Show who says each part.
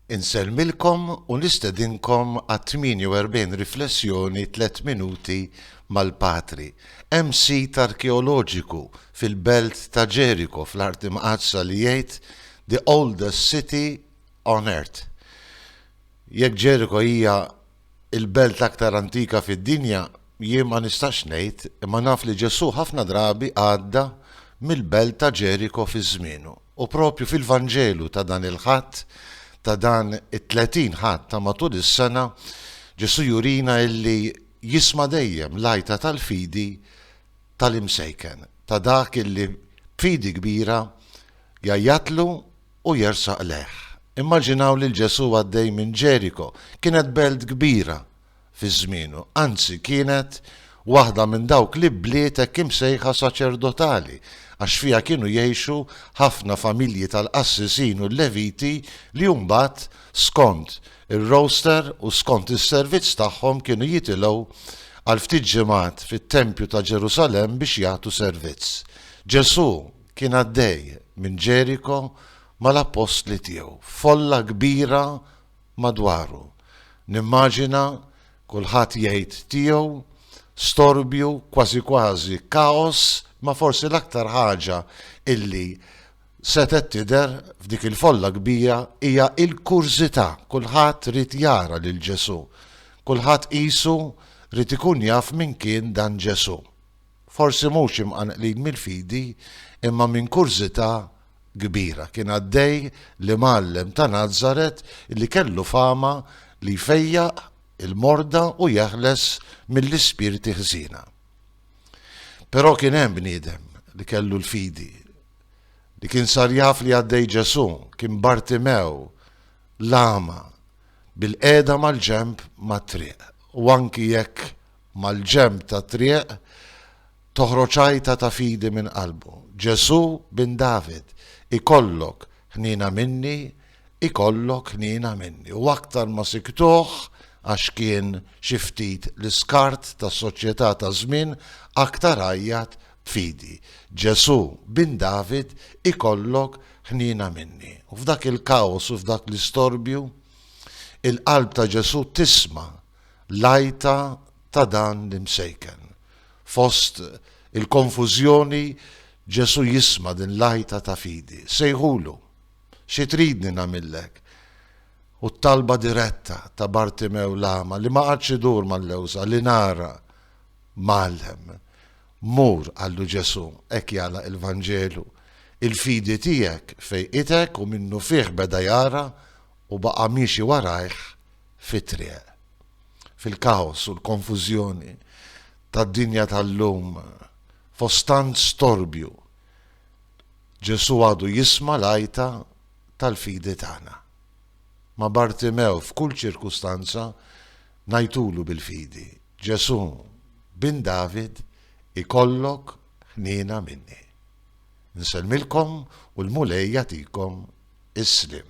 Speaker 1: Insellmilkom u nistedinkom għat-48 riflessjoni tliet minuti mal-Patri. Hemm sit arkeoloġiku fil-belt ta' Ġeriko fl-Art Imqaddsa li jgħid The Oldest City on Earth. Jekk Ġeriko hija il-belt l-aktar antika fid-dinja, jien ma nistax ngħid, imma naf li Ġesù ħafna drabi għadda mill-belt ta' Ġeriko fi żmienu. U proprju fil-Vanġelu ta' dan il-Ħadd, ta' dan it-tletin Ħadd ta' matul is-sena, Ġesù jurina illi jisma' dejjem l-għajta tal-fidi tal-imsejken, ta' dak illi b'fidi kbira jgħajjatlu u jersaq lejh. Immaġinaw lil Ġesù għaddej minn Ġeriko. Kienet belt kbira fi żmienu, anzi kienet waħda minn dawk l-ibliet hekk imsejħa saċerdotali, għax fiha kienu jgħixu ħafna familji tal-qassisin u l-Leviti li mbagħad skont ir-roster u skont is-servizz tagħhom kienu jitilgħu għal ftit ġimgħat fit-tempju ta' Ġerusalemm biex jagħtu servizz. Ġesù. kien għaddej minn Ġeriko mal-appostli tiegħu, folla kbira madwaru. Nimmaġina kulħadd jgħid tiegħu, storbju, kważi kważi kaos, imma forsi l-aktar ħaġa illi setgħet tidher f'dik il-folla kbira hija l-kurżità, kulħadd ried jara lil Ġesù, kulħadd qisu ried ikun jaf min kien dan Ġesù. Forsi mhux imqanqlin mill-fidi, imma minn kurżità kbira. Kien għaddej l-Imgħallem ta' Nazaret li kellu fama li jfejjaq il-morda u jeħles mill-ispirti ħżiena. Però kien hemm bniedem li kellu l-fidi, li kien sar jaf li għaddej Ġesù, kien Bartimew, l-agħma, bilqiegħda mal-ġenb mat-triq, u anki jekk mal-ġenb tat-triq toħroġ għajta ta' fidi minn qalbu, Ġesù Bin David, ikollok ħniena minni, ikollok ħniena minni. U aktar ma siktuh, għax kien xi ftit l-iskart tas-soċjetà taż-żmien, aktar għajjat b'fidi, Ġesù Bin David, ikollok ħniena minni. U f'dak il-kaos u f'dak l-istorbju, il-qalb ta' Ġesù tisma'. l-għajta ta' dan l-imsejken. Fost il-konfużjoni Ġesù jisma' din l-għajta ta' fidi. Sejħulu, xi tridni nagħmillek? U t-talba diretta ta' Bartimew l-agħma li ma qagħadx idur mal-lewża li nara Mgħallem. Mur, qallu Ġesù, hekk jagħlaq il-Vanġelu. Il-fidi tiegħek fejqitek u minnufih beda jara u baqa' miexi warajh fit-triq. Fil-kaos u l-konfużjoni tad-dinja tal-lum, fost tant storbju, Ġesù għadu jisma' l-għajta tal-fidi tagħna. Ma' Bartimew f'kull ċirkustanza ngħajtulu bil-fidi, Ġesù, Bin David, ikollok ħniena minni. Nsellmilkom u l-Mulej jagħtikom is-sliem.